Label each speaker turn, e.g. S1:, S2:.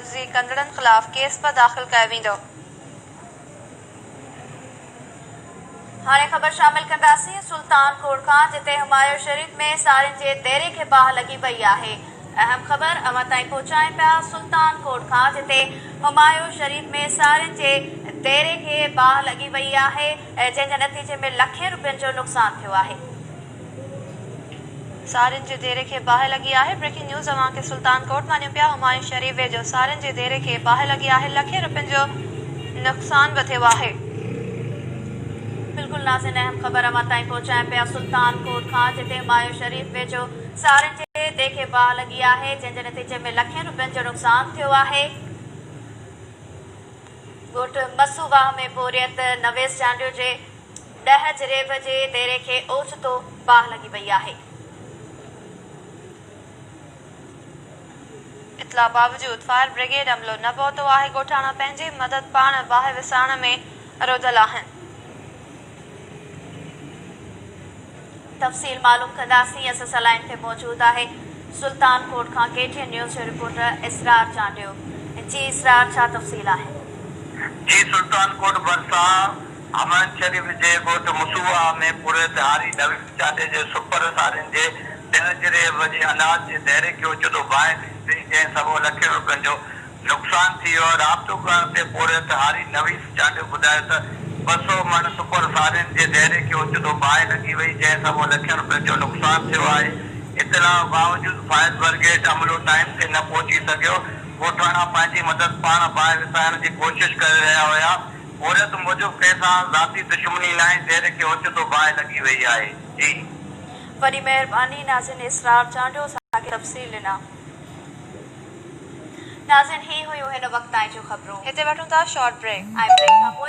S1: عرضي ڪندڙن خلاف ڪيس به داخل ڪيو ويندو. هاڻي خبر شامل ڪنداسين سلطان ڪوڙ کان جتي همايو شريف ۾ سارين جي ديري کي باهه لڳي پئي آهي اهم خبر اوهان تائين پهچائين پيا سلطان ڪوڙ کان جتي همايو شريف ۾ سارين جي ديري کي باهه لڳي وئي آهي جنهن جي نتيجي ۾ لکين روپين جو نقصان ٿيو آهي. سارين جي ديري کي باهه لڳي آهي بريڪنگ نيوز اوهان کي سلطان ڪوٽ مان ڏيون پيا همايون شريف ويجهو سارين جي ديري کي باهه لڳي آهي لکين روپين جو نقصان به ٿيو آهي. بلڪل نازين اهم خبر اوهان تائين پهچايون پيا سلطان ڪوٽ کان جتي همايون شريف ويجهو سارين جي ديري کي باهه لڳي آهي جنهن جي نتيجي ۾ لکين روپين جو نقصان ٿيو آهي ڳوٺ مسو واهه ۾ پورهيت نويس جانڊيو جي ڏهه جريب جي ديري کي اوچتو باهه لڳي وئي آهي. اطلاع باوجود فائر بريگيڊ عملو نه پهتو آهي، ڳوٺاڻا پنهنجي مدد پاڻ باهه وسائڻ ۾ روڌل آهن. تفصيل معلوم ڪنداسين اسان سان لائين تي موجود آهي سلطان ڪوٽ کان ڪي ٽي اين نيوز جو رپورٽر اسرار چانڊيو جي اسرار ڇا تفصيل آهن. جي
S2: سلطان ڪوٽ ڀرسان حمائن شريف جي ڳوٺ مسوعا ۾ پورهيت هاري نويد چانڊيو جي سپر سارين جي ڏهه جريب جي اناج جي دهريڪي اوچتو باهه ٿي پئي جنهن سبب لکين روپين جو نقصان ٿي ويو آهي، رابطو ڪرڻ تي پورهيت هاري نويس چانڊيو ٻڌايو ته ٻه سؤ مڻ سپر سارين جي ديري کي اوچتو باهه لڳي وئي جنهن سبب لکين رپين جو نقصان ٿيو آهي، اطلاع باوجود فائر برگيڊ عملو ٽائيم تي نه پهچي سگهيو، ڳوٺاڻا پنهنجي مدد پاڻ باهه وسائڻ جي ڪوشش ڪري رهيا هيا، پورهيت موجب ڪنهن سان ذاتي دشمني ناهي، ديري کي اوچتو باهه لڳي وئي آهي. جي. وڏي
S1: مهرباني ناظرين اسرار چانڊيو اسان کي تفصيل ڏنا. ناظرين هي هيون هن وقت تائين جون خبرون هتي وٺون ٿا شارٽ بريڪ ۽ بريڪ کانپوء